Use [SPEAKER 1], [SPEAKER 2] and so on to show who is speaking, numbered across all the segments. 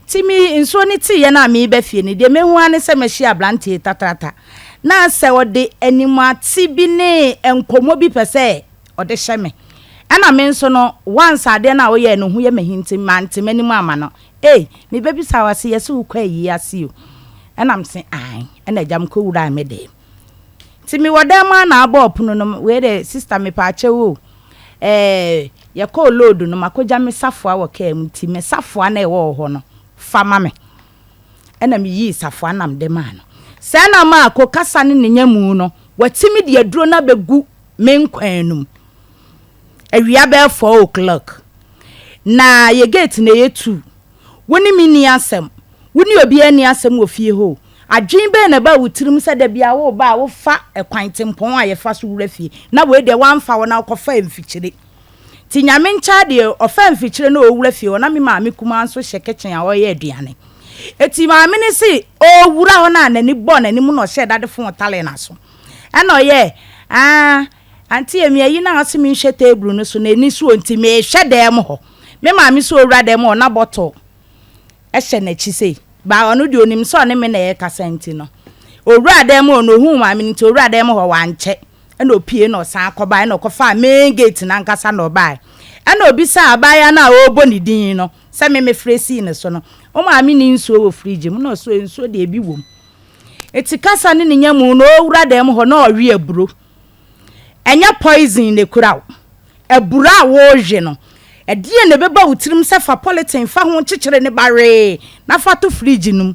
[SPEAKER 1] Ntsi me nsuo no tseeɛ no a mereba fie no, deɛ mehu ara ne sɛ mahyia aberanteɛ tatrata. Na sɛ ɔde animuate bi ne nkɔmmɔ bi pɛ sɛ ɔde hyɛ me. Ɛna me nso no, once adeɛ no a ɔyɛɛ no ho yɛ m'ahi nti, mante m'anim amma no. Ei, mebɛbisaa wo ase, yɛse wokɔ ayie ase o? Ɛna mese aane. Ɛna agya mekɔwuraa me deem. Ntsi mewɔ dan mu a na abɔɔ pon no, wei de sister mepaakyɛw o, eh, yɛkɔɔ load no, makogya me safoa wɔ kaa mu ntsi me safoa no a ɔwɔ hɔ no fa ma me. Nna miyii safoa no na mede maa no. Sɛɛ na maa ko kasa ne ne nyamu no, wɔatsim de aduro no abegu me nkwan no mu. Awia bɛyɛ four o'clock, na yɛ gate na yetuu. Wo ne me nni asɛm. Wo ne obiara nni asɛm wɔ fie hɔ o. Adwene bɛn na ɛbaa wo tirim sɛ da biara woreba a wofa kwan tempɔn a yɛfa so wura fie, na wei deɛ woamfa hɔ na wokɔfaa mfikyire? Te Nyame nkyɛ adeɛ, ɔfaa mfikyire na ɔrewura fie hɔ na me maame kumaa nso hyɛ kitchen a ɔreyɛ aduane. Enti maame no se ɔrewura hɔ no a n'ani bɔɔ n'anim na ɔhyɛɛ dade fon taree n'aso. Ɛna ɔyɛɛ aah, Auntie Amy ayi no a ɔse menhwɛ table no so no, ani so o nti mehwɛ dan mu hɔ. Me maame so ɔwura dɛm ɔ na bɔtɔ hyɛ nakyi sei ba ɔno deɛ onim sɛ ɔne me na ɛkasa nti no ɔwura dɛm ɔ na ohuu maame no nti ɔwura dɛm hɔ wankyɛ ɛna opie na ɔsan kɔbae na ɔkɔfaa main gate no ankasa na ɔbae ɛna obisaa abaayewa no a ɔrebɔ ne din no sɛ me mefrɛ sii ne so no wo maame ni nsuo wɔ fridge mu na ɔso nsuo deɛ ebi wom eti kasa ne ne nyamu na ɔwura dɛm hɔ na ɔwe aburo Ɛnyɛ poison na ekura wo. Abura a worewe no, ɛdeɛn na ɛbɛba wo tirim sɛ fa polythene fa ho kyekyere ne ba wee na fa to fridge no mu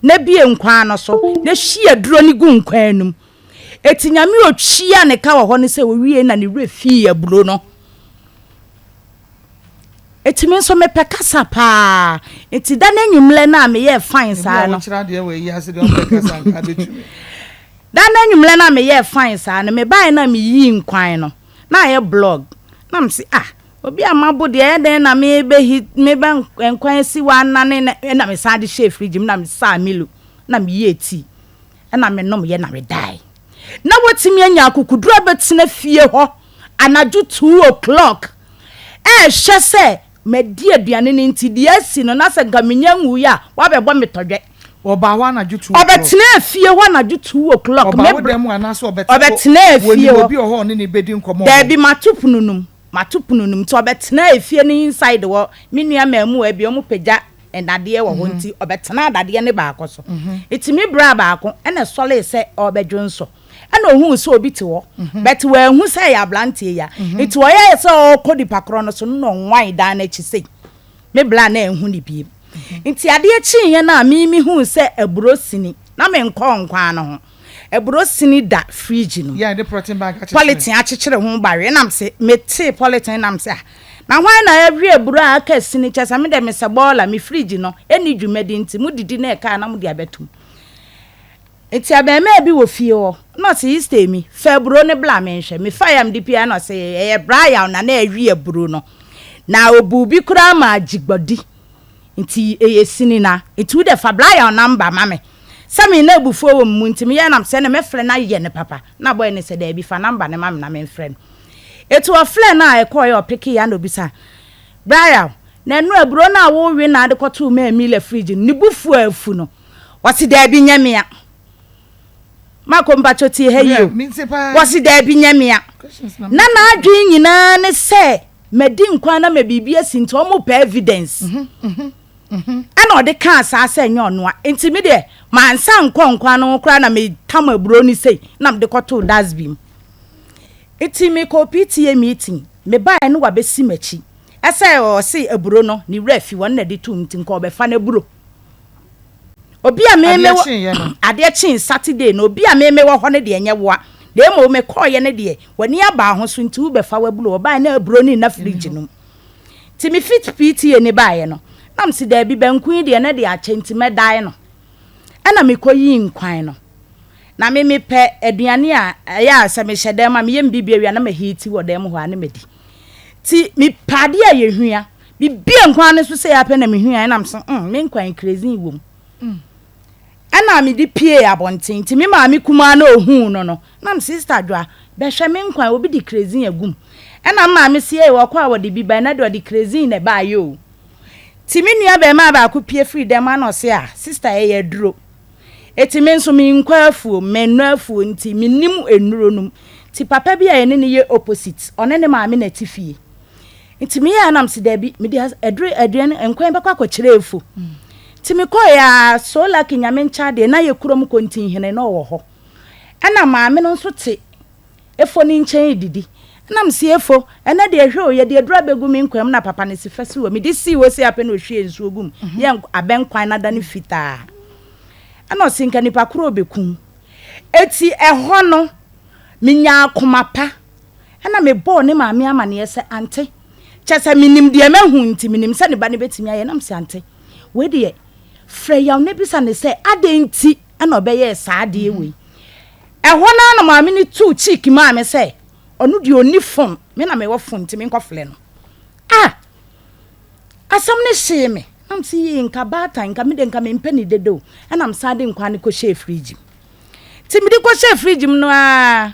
[SPEAKER 1] na bue nkwan ano so na hwie aduro no gu nkwan no mu. Eti Nyame otuaa ne ka wɔ hɔ no sɛ owiei na ne werɛ fii aburo no. Eti me nso mepɛ kasa paa. Eti da no anwummerɛ no a meyɛɛ fine saa no. Da no anwummerɛ no a meyɛɛ fine saa no, mebaeɛ no a meyii nkwan no, na ayɛ blog. Na mese, ah, obi a mabo deɛ ɛyɛ dɛn na mebɛ hit, mebɛ nkwan asi wɔ anane na ɛna mesan de hyɛɛ fridge mu na mesaa Milo na meyɛɛ tea. na menomyɛ na medae. Na watumi anya akokoduru abɛtena fie hɔ anadwo two o'clock ɛrehwɛ sɛ madi aduane no nti deɛ asi no na sɛ nka menya nwuiɛ a wabɛbɔ me tɔdwɛ. Ɔbaa hɔ anadwo
[SPEAKER 2] two o'clock. Ɔbɛtenaa fie hɔ
[SPEAKER 1] anadwo two o'clock. Ɔbaa wo dan mu anaasɛ
[SPEAKER 2] ɔbɛte hɔ? Ɔbɛtenaa fie hɔ. Wɔnim
[SPEAKER 1] obi wɔ hɔ a ɔne no bɛdi nkɔmmɔ
[SPEAKER 2] wɔ hɔ? Daabi, mato pono
[SPEAKER 1] no mu. Mato pono no mu nti ɔbɛtenaa fie no inside hɔ. Me nua mmaamua bi wɔpagya nnadeɛ wɔ hɔ nti ɔbɛtenaa dadeɛ no baako so. Ɛtumi braa baako na ɛsɔree sɛ ɔrebɛdwo nso. Ɛnna ɔhuu sɛ obi te hɔ, but wanhu sɛ ɛyɛ aberanteɛ yi a nti ɔyɛɛ sɛ ɔrekɔ nipa korɔ no so no na ɔwae dan no akyi sei. Me bra no anhu no bio. Nti adeɛ kyeeɛ no a me mehuu sɛ aburo sini na menkɔɔ nkwan no ho. Aburo sini da fridge no mu.
[SPEAKER 2] Polythene akyekyere ho
[SPEAKER 1] bare. Ɛna me se, me tee polythene na me se, ah, na hwan na awie aburo a aka sini? Kyɛ sɛ me deɛ mesɛ boiler, me fridge no ɛnni dwumadi nti mo didi na ɛka a na mode abɛtom. Nti abarimaa bi wɔ fie hɔ na ɔse, Easter mi, fa aburo no bla menhwɛ. Mefaeɛ a mede pue a na ɔse, ɛyɛ bra yaw na na awie aburo no. Na ɔbuu bi koraa maa gyigbɔdi. Ntsi eyɛ sini na ntsi wo dɛ fa Brian number ma me sɛ me na ebufuo wɔ me mu ntsi meyɛ nam sɛ na mɛfrɛ no ayɛ no papa na bɔy no sɛ daabi fa number no ma me na me mfrɛ no ntsi ɔfrɛ no a ɛkɔɔ yɛ ɔpekee a na obisa Brian na ɛno aburo no a wo we na ade kɔtoo maa Mila fridge no ne bufuo a afu no ɔse daabi nyɛ mea. Marco mpakyɛ tie ha yie o. Wɔse daabi nyɛ mea. Na n'adwene nyinaa ne sɛ madi nkwa na mɛ biribi asi nti ɔmo pɛ evidence. Mhm, mhm. Mhm. Ɛna ɔde kaa saa sɛ ɛnyɛ ɔnoa. Nti me deɛ mansa nkɔ nkwa no ho koraa na me tam aburo no sei na mede kɔtoo dasbi mu. Nti me kɔɔ PTA meeting. Me baeɛ no wabɛsi m'akyi. Ɛsɛ ɔse aburo no ne werɛ afi hɔ no na ɛde too mu nti nka ɔbɛfa n'aburo. obi a meme wɔ adeɛ kyee saturday no obi a meme wɔ hɔ no deɛ nyɛ woa na mmom mekɔɔyɛ no deɛ w'ani abaa ho so nti wobɛfa w'aburo ɔbaa na aburo ne nna fridge nom nti me fit pta ni baeɛ no nam si daabi banku yi deɛ na deɛ akyɛ nti mɛdae no ɛna mekɔyii nkwan no na me mepɛ aduane a ɛyɛ a sɛ mehyɛ dan mu a meyɛ mbibia wia na mahiti wɔ dan mu hɔ a na madi ti mepɛ adeɛ a yɛhua Me bue nkwan no so sei ara pɛ na me hui a ɛna me so mm me nkwan krezin wom. Ɛna me de pie abɔnten nti me maame kumaa na ohuu no no na me sista dwa bɛ hwɛ me nkwan obi de krezin agum ɛna me maame se ei wɔkɔ a wɔde bi ba ɛna de ɔde krezin na ɛba ayɛ o ti me nua bɛɛmaa baako pie firi dɛm ana ɔse a sista ɛyɛ aduro eti me nso me nkɔ afuo me nnɔ afuo nti me nim enuro nom ti papa bi a yɛne ne yɛ opposite ɔne ne maame na ɛte fie nti meyɛ a na mese daabi mede aduru aduane nkwan bɛkɔ akɔkyerɛ afu nti mekɔe a so lucky nyame nkyɛ adeɛ na yɛ kurom kontinhene na ɔwɔ hɔ ɛna maame no nso te efo ne nkyɛn redidi ɛna mese efo ɛnɛ deɛ hwɛ o yɛde aduru abɛgu me nkwan mu na papa no si fɛ si wɔ mede sii hɔ si apɛ na ɔhwie nsuo gu mu mhm. yɛ abɛn kwan no ada no fitaa ɛna ɔse nka nipa korɔ ɔbɛkum ɛti ɛhɔ no menyaa akoma pa ɛnna mebɔɔ ne maame amanneɛ sɛ ante. Kyerɛ sɛ minim deɛ mahu nti, minim sɛ ne ba no betumi ayɛ, na mise ante. Wei deɛ, frɛ Yaw na bisa no sɛ adɛn nti na ɔbɛyɛɛ saa adeɛ wei. Ɛhɔ no ara na maame no tuu cheek maa me sɛ ɔno deɛ ɔnni phone, me na mewɔ phone nti menkɔfrɛ no. Ah! Asɛm no hyee me, na mise yei nka baatan, nka me deɛ nka mempɛ no dede o, ɛnna mesan de nkwan no kɔhyɛɛ fridge mu. Nti mede kɔhyɛɛ fridge mu no ara,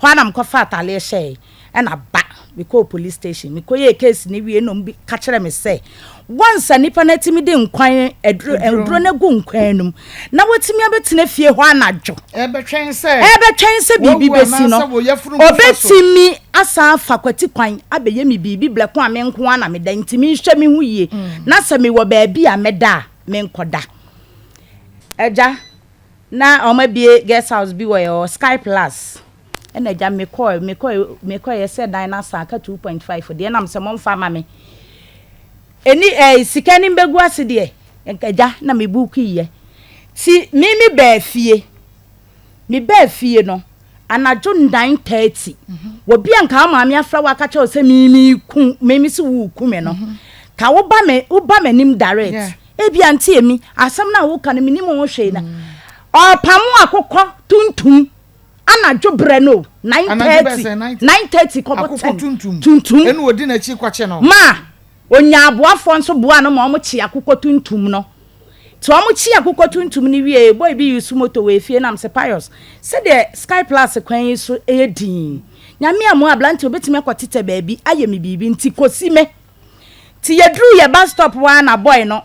[SPEAKER 1] Hɔ ara na mekɔfaa atadeɛ hyɛeɛ na ba. Mekɔɔ police station, mekɔyɛɛ case no wie na wɔka kyerɛɛ me sɛ, once a nipa no atumi de nkwan aduro aduro no agu nkwan no mu na watumi abɛtena fie hɔ anadwo ɛbɛtwɛn
[SPEAKER 2] sɛ ɛbɛtwɛn sɛ biribi bɛsi no
[SPEAKER 1] ɔbɛtumi asan afa kwati kwan abɛyɛ me biribi blɛko a me nko ara na meda nti menhwɛ me ho yie mm. na sɛ mewɔ baabi a mɛda a menkɔda agya Na wɔabue guest house bi wɔ ɛhɔ, Sky Plus. Ɛna agya me kɔe, me kɔe, me kɔe, yɛsɛ dan no asa aka two point five deɛ, ɛna me sɛ momfa ma me. Ɛni ɛɛ sika no mbɛgu ase deɛ, nka agya na me buukuiɛ. Ti me me baa fie, me baa fie no, anadwo nine thirty wɔbi a nka wo maame afra wo aka kyerɛ wo sɛ mimi ku mimi si wo ku me no ka wo ba me wo ba m'anim direct ebi ante emi asɛm na wo ka no menim ho hwee na ɔpamo akokɔ tuntum anadwo brɛ no nine thirty nine thirty kɔbɔ ten tuntum ɛna odi n'akyi
[SPEAKER 2] kɔkye no maa. Onyaa
[SPEAKER 1] aboafoɔ nso boaa no ma wɔkyee akokɔ tuntum no. Nti wɔkyee akokɔ tuntum no wieeɛ, boy bi use moto wɔ efie nam se Pius, sɛdeɛ Sky Plus kwan yi so yɛ dinn yi, Nyame ammu abranteɛ obɛtumi akɔ tetɛ baabi ayɛ me biribi nti kɔsi me. Nti yɛduruu yɛ bus stop hɔ ara na boy no.